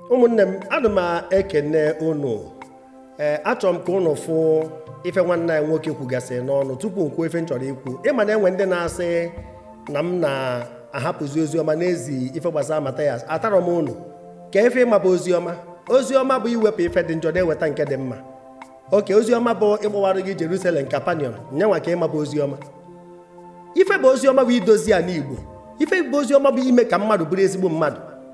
ụmụnne m ana m ekene unu ee achọrọ m ka unu fụ ife nwanne anyị nwoke kwugasị n'ọnụ tupu m kwuo ife m chọrọ ikwu ị ma na enwe ndị na-asị na m na-ahapụzi ozi ọma na-ezi ife gbasara Mathias atarọ m unu ka ife ị ma bụ ozi ọma ozi ọma bụ iwepụ ife dị njọ na-eweta nke dị mma oke ozi ọma bụ ịkpọwara gị Jerusalem Kapanaum ya nwa ka ị ma bụ ozi ọma ife bụ ozi ọma bụ idozi ana Igbo ife bụ ozi ọma bụ ime ka mmadụ bụrụ ezigbo mmadụ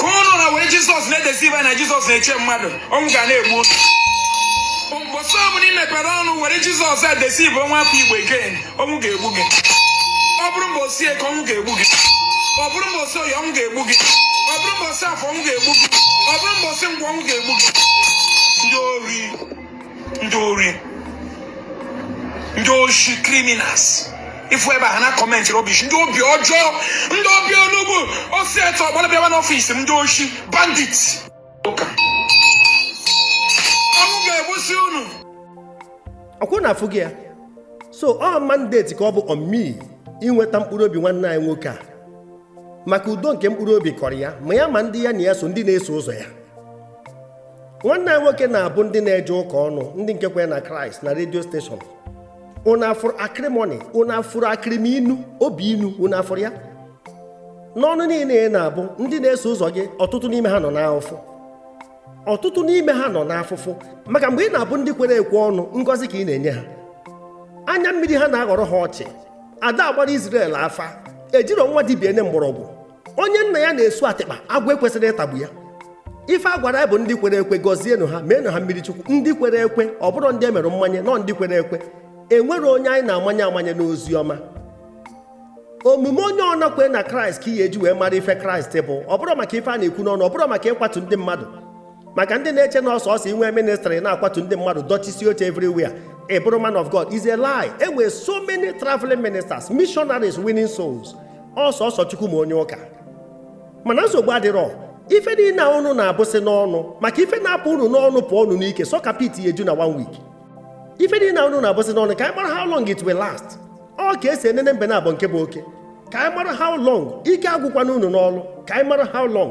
ka ụnụ na-ewere jizọs na-edeceive na jizọs na-eche mmadụ ọnwụ ga na-egbu mbọsị ọbụla ị mepere ọnụ were jizọs edeceive nwa afọ igbo again ọnwụ ga-egbu gị ọ bụrụ mbọsị eke ọnwụ ga-egbu gị ọ bụrụ mbọsị oye ọnwụ ga-egbu gị ọ bụrụ mbọsị afọ ọnwụ ga-egbu gị ọ bụrụ mbọsị nkwọ ọnwụ ga-egbu gị ndị ori ndị ori ndị oshi criminals ị fụ ebe ha na-akọmentị rọbish ndị obi ọjọọ ndị obi onugbu osi etu ọ gbara bịawa n'ọfịs m ndị oshi bandit ụka ọnwụ ga-egbusi unu ọkwa unu afụgo ya so ọ mandate ka ọ bụ on me inweta mkpụrụ obi nwanne anyị nwoke a maka udo nke mkpụrụ obi kọrọ ya ma ya ma ndị ya na ya so ndị na-eso ụzọ ya nwanne anyị nwoke na-abụ ndị na-eje ụka ọnụ ndị nke kwere na kraịst na redio steshọn unu afụrụ akịrịmọnị unu afụrụ akịrịmọnị obi inu unu afụrụ ya n'ọnụ niile a ị na-abụ ndị na-eso ụzọ gị ọtụtụ n'ime ha nọ n'afụfụ ọtụtụ n'ime ha nọ n'afụfụ maka mgbe ị na-abụ ndị kwere ekwe ọnụ ngọzi ka ị na-enye ha anya mmiri ha na-aghọrọ ha ọchị ada agbara Izrel afa ejirọ nwa dibia ene mgbọrọgwụ onye nna ya na-esu atịkpa agwọ ekwesịrọ ịtagbu ya ife a gwara anyị bụ ndị kwere ekwe gọzienụ ha meenụ ha mmiri chukwu ndị kwere ekwe ọ bụrọ ndị e mere mmanye no ndị kwere ekwe enwerọ onye anyị na-amanye amanye n'ozi ọma omume onye ọbụna kwere na kraịst ka ị ya-eji wee mara ife kraịst bụ ọ bụrọ maka ife a na-ekwu n'ọnụ ọ bụrọ maka ịkwatu ndị mmadụ maka ndị na-eche na ọ sọọsọ inwe ministrị na-akwatu ndị mmadụ dọchisie oche everywhere ị bụrụ man of god is a lie enwere so many traveling ministers missionaries winning souls ọ sọọsọ chukwu ma onye ụka mana nsogbu adịrọ ife niile a ụnụ na-abụsị n'ọnụ maka ife na-apụ ụnụ n'ọnụ pụọ ụnụ n'ike sọka pit ya-eju na one week ife niile a ụnụ na-abụsị n'ọnụ ka anyị mara how long it will last ọ ka esi enene mbe naabọ nke bụ oke ka anyị mara how long ike agwụkwana unu n'ọlụ ka anyị mara how long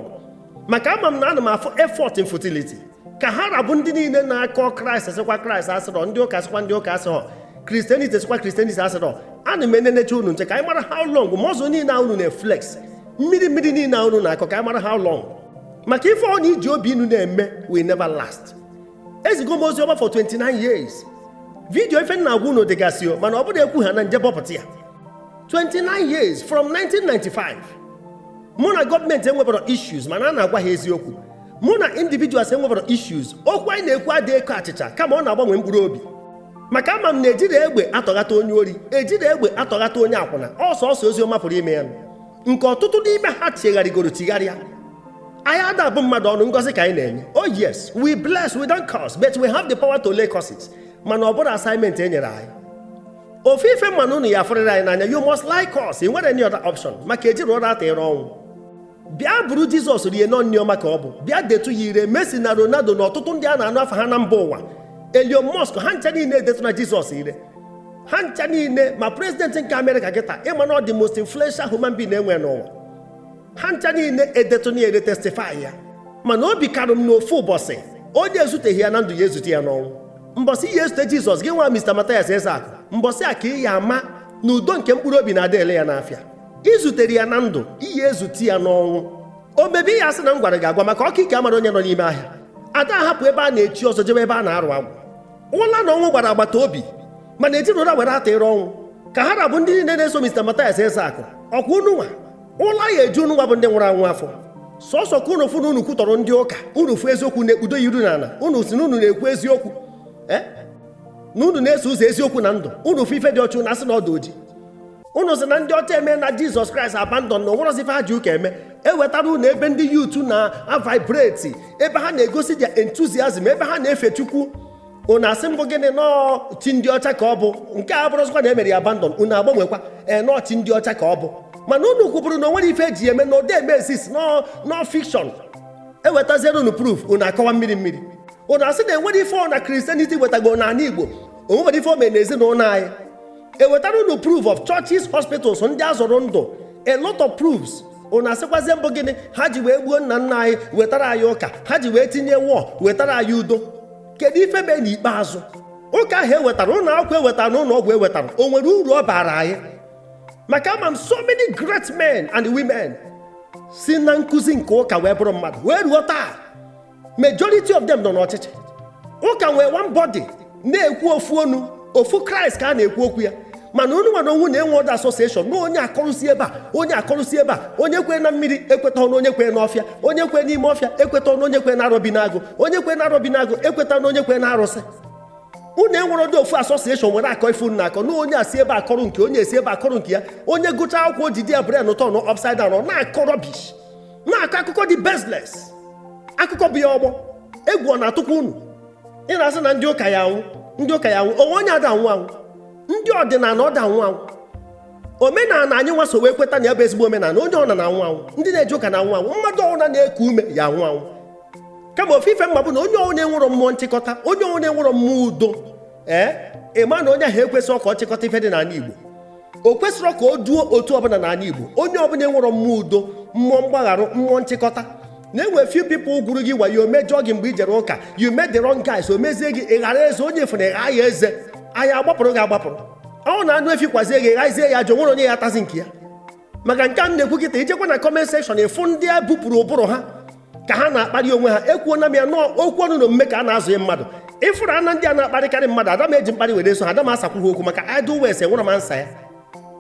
maka ama m na ana m afụ effort in futility ka ha ra bụ ndị niile na-akọ kraịst sịkwa kraịst asịrọ ndị ụka sịkwa ndị ụka asịrọ kristianity sịkwa kristianity asịrọ ana m enenecha unu nche ka anyị mara how long mọzụ niile a unu na-eflex mmiri mmiri niile a unu na-akọ ka anyị mara how long maka ife ọbụna i ji obi inu na-eme will never last ezigo m ozi ọma for 29 years vidiyo ife m na-agwa unu dịgasị o mana ọ bụrụ ekwu ha na m je bọpụta ya 29 years from 1995 mụ na gọọmenti enwebero issues mana a na-agwa ha eziokwu mụ na individuals enwebero issues okwu anyị na-ekwu adị eko achịcha kama ọ na-agbanwe mkpụrụ obi maka ama m na ejirọ egbe atọghata onye ori ejirọ egbe atọghata onye akwụna ọ sọọsọ ozi ọma pụrụ ime ya nke ọtụtụ n'ime ha chegharịgoro chigharịa anyị ada abụ mmadụ ọnụ ngọzi ka anyị na-enye oh yes we bless we don't curse but we have the power to lay curses mana ọ bụrọ assignment e nyere anyị ofu ife m ma na unu ya-afụrịrị anyị n'anya you must like us ị nwerọ any other option maka ejirọ ụra atụyere ọnwụ bịa buru jizọs rie na ọ nri ọma ka ọ bụ bịa detu ya ire Messi na Ronaldo na ọtụtụ ndị a na-anụ afa ha na mba ụwa Elon Musk ha ncha niile edetuna jizọs ire ha ncha niile ma prezidenti nke amerịka kịta ị ma na ọ the most influential human being e nwe n'ụwa ha ncha niile edetuna ya ire testifai ya mana obi karụ m na ofu ụbọsị onye ezuteghị ya na ndụ ya ezute ya n'ọnwụ mbọsị ị ya-ezute jizọs gị nwa Mr. Mathias Ezeaku mbọsị a ka ị ya ama na udo nke mkpụrụ obi na ada ele ya n'afịa i zuterọ ya na ndụ ị ya-ezute ya n'ọnwụ o mebe ị ya-asị na m gwara gị agwa maka ọka ike amara onye nọ n'ime ahịa ada ahapụ ebe a na-echi ọzọ jebe ebe a na-arụ agwụ ụla na ọnwụ gbara agbata obi mana ejirọ ụla were atụyere ọnwụ ka ha ra bụ ndị niile na-eso Mr. Mathias Ezeaku ọkwa unu nwa ụla ya-eju unu nwa bụ ndị nwụrụ anwụ afọ sọsọ ka unu fụ na unu kwutọrọ ndị ụka unu fụ eziokwu na-ekpudo ya iru n'ana unu sị na unu na-ekwu eziokwu eh? na unu na-eso ụzọ eziokwu na ndụ unu fụ ife dị ọcha unu asị na ọ dụ oji unu sị na ndị ọcha emena jizọs kraịst abandon na o nwerọzi ife ha ji ụka eme e wetara unu ebe ndị youth na-avibrate ebe ha na-egosi their enthusiasm ebe ha na-efe chukwu unu asị mbụ gịnị na ọ chi ndị ọcha ka ọ bụ nke a bụrọzikwa na e mere ya abandon unu agbanwekwa ee na ọ chi ndị ọcha ka ọ bụ mana unu kwuburu na o nwerọ ife e ji ya eme na ọ dị eme exist na ọ na ọ fiction ewetaziere unu proof unu akọwa mmiri mmiri unu asị na enwerọ ife ọma christianity wetago n'ana igbo o nwerọ ife o mere na ezinụlọ anyị ewetara unu proof of churches hospitals ndị a zọrọ ndụ a lot of proofs unu asịkwazie mbụ gịnị ha ji wee gbuo nna nna anyị wetara anyị ụka ha ji wee tinye war wetara anyị udo kedu ife mee n'ikpeazụ ụka ahụ ewetara ụlọ akwụkwọ ewetara na ụlọ ọgwụ ewetara o nwere uru ọ bara anyị maka ama m so many great men and women si na nkụzi nke ụka wee bụrụ mmadụ wee ruo taa majority of them nọ n'ọchịchị ụka nwee one body na-ekwu ofu onu ofu kraịst ka a na-ekwu okwu ya mana unu nwa na onwe unu enwerọdụ association na onye akọrọ si ebe a onye akọrọ si ebe a onye kwee na mmiri ekwetarọ n'onye kwee n'ọfịa onye kwee n'ime ọfịa ekweta ọnụ onye kwee na arọbinagụ onye kwee na arọbinagụ ekweta na onye kwee na arụsị unu enwerọdụ ofu association unu were akọ ife unu na-akọ na onye esi ebe akọrọ nke onye esi ebe akọrọ nke ya onye gụcha akwụkwọ oji their brain a-turn upside down ọ na-akọ rubbish na-akọ akụkọ dị baseless akụkọ bụ ya ọgbọ egwu ọ na-atụkwa unu ị na-asị na ndị ụka ya anwụ ndị ụka ya anwụ o nwe onye ada anwụ anwụ ndị ọdịnala ọ da anwụ anwụ omenala anyị nwa so wee kweta na ya bụ ezigbo omenala onye ọ na anwụ anwụ ndị na-eje ụka na anwụ anwụ mmadụ ọbụla na-eku ume ya anwụ anwụ kama ofu ife m ma bụ na onye ọbụla enwerọ mmụọ nchịkọta onye ọbụla enwerọ mmụọ udo ee ị ma na onye ahụ ekwesịrọ ka ọ chịkọta ife dị n'ala Igbo o kwesịrọ ka o duo otu ọbụla n'ala Igbo onye ọbụla enwerọ mmụọ udo mmụọ mgbagharụ mmụọ nchịkọta na e nwe few people gwuru gị wayo mejọọ gị mgbe i jere ụka you met the wrong guys o mezie gị ị ghara eze onye fụna ịgha ya eze anyị agbapụrụ gị agbapụrụ ọ na anụ efi kwazie gị ghazie ya jọ nwere onye ya atazi nke ya maka nke a na-ekwu kịta i jekwa na kọment sekshọn ị fụ ndị a bupụrụ ụbụrụ ha ka ha na-akparị onwe ha ekwuona m ya na ọ okwu ọnụ na omume ka a na-azụ ya mmadụ ị fụrụ a na ndị a na-akparịkarị mmadụ ada m eji mkparị were eso ha ada m asakwu ha okwu maka idle words enwerọ m ansa ya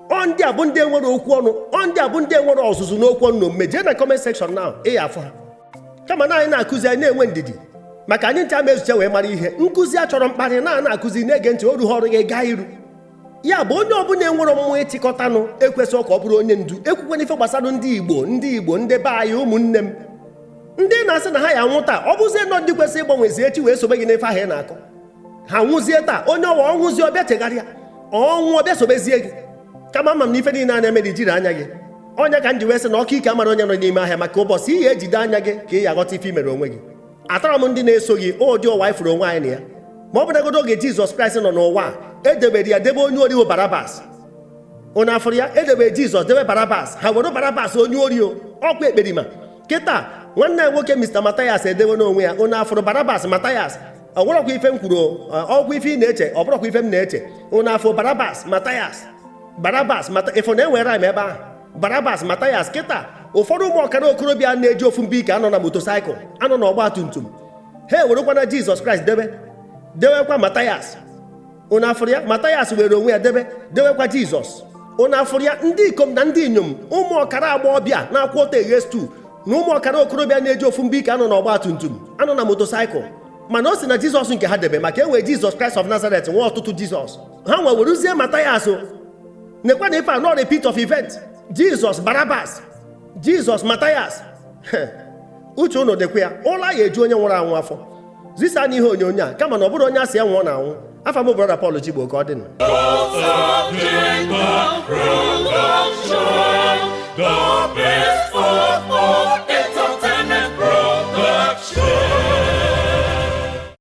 ọ ndị a bụ ndị enwerọ okwu ọnụ ọ ndị a bụ ndị enwerọ ọzụzụ n'okwu ọnụ na omume jee na kọment sekshọn na ị ya afụ ha kama na anyị na-akụzi anyị na-enwe ndidi maka anyị ncha ma ezuche wee mara ihe nkụzi achọrọ mkparị na na-akụzi na-ege ntị oru ha ọrụ gị gaa iru ya bụ onye ọbụla enwerọ mmụọ ịchịkọtanụ ekwesịghị ka ọ bụrụ onye ndu ekwukwana ife gbasara ndị igbo ndị igbo ndị be anyị ụmụnne m ndị na-asị na ha ya anwụ taa ọ bụzie na ọ ndị kwesịrị ịgbanwezi echi wee sobe gị n'ife ahụ ị na-akọ ha nwụzie taa onye ọwa ọ nwụzie ọ bịa chegharịa ọ nwụ ọ bịa sobezie gị kama ama m na ife niile a na-eme na i jirọ anya gị ọ ya ka m ji wee sị na ọka ike amara onye nọ n'ime ahịa maka ụbọchị ị ya ejide anya gị ka ị ya aghọta ife i mere onwe gị atarọ m ndị na-eso gị ụdị ụwa anyị fụrụ onwe anyị na ya ma ọ bụnagodo oge jizọs kraịst nọ n'ụwa e debere ya debe onye ori o barabas unu afụrụ ya e debere jizọs debe barabas ha were barabas onye ori o ọkwa ekperima kịta nwanne ya nwoke mr matayas edewena onwe ya unu afụrụ barabas matayas ọ bụrọkwa ife m kwuru ọ bụkwa ife ị na-eche ọ bụrọkwa ife m na-eche unu afụ barabas matayas barabas mata ị fụ na e nwe rhyme ebe ahụ barabas matayas kịta ụfọdụ ụmụ ọkara okorobịa na-eji ofu ibe ike anọ na motosaịkụl anọ na ọgba tum tum ha ewerekwana jizọs kraịst debe dewekwa matayas unu afụrụ ya matayas were onwe ya debe dewekwa jizọs unu afụrụ ya ndị ikom na ndị inyom ụmụ ọkara agbọghọbịa na-akwụ ọtọ eghe stew na ụmụ ọkara okorobịa na-eji ofu ibe ike anọ na ọgba tum tum anọ na motosaịkụl mana o si na jizọs nke ha debe maka e nwe jizọs kraịst of nazaret nwe ọtụtụ jizọs ha nwe werezie matayas nekwa na ife a na ọ repeat of event jizọs barabas jizọs matayas uche unu dịkwa ya ụla ya eju onye nwụrụ anwụ afọ zisanụ ihe onyonyo a kama na ọ bụrọ onye a sị ya nwụọ na-anwụ afa m brọda Pọl Chigbo ka ọ dị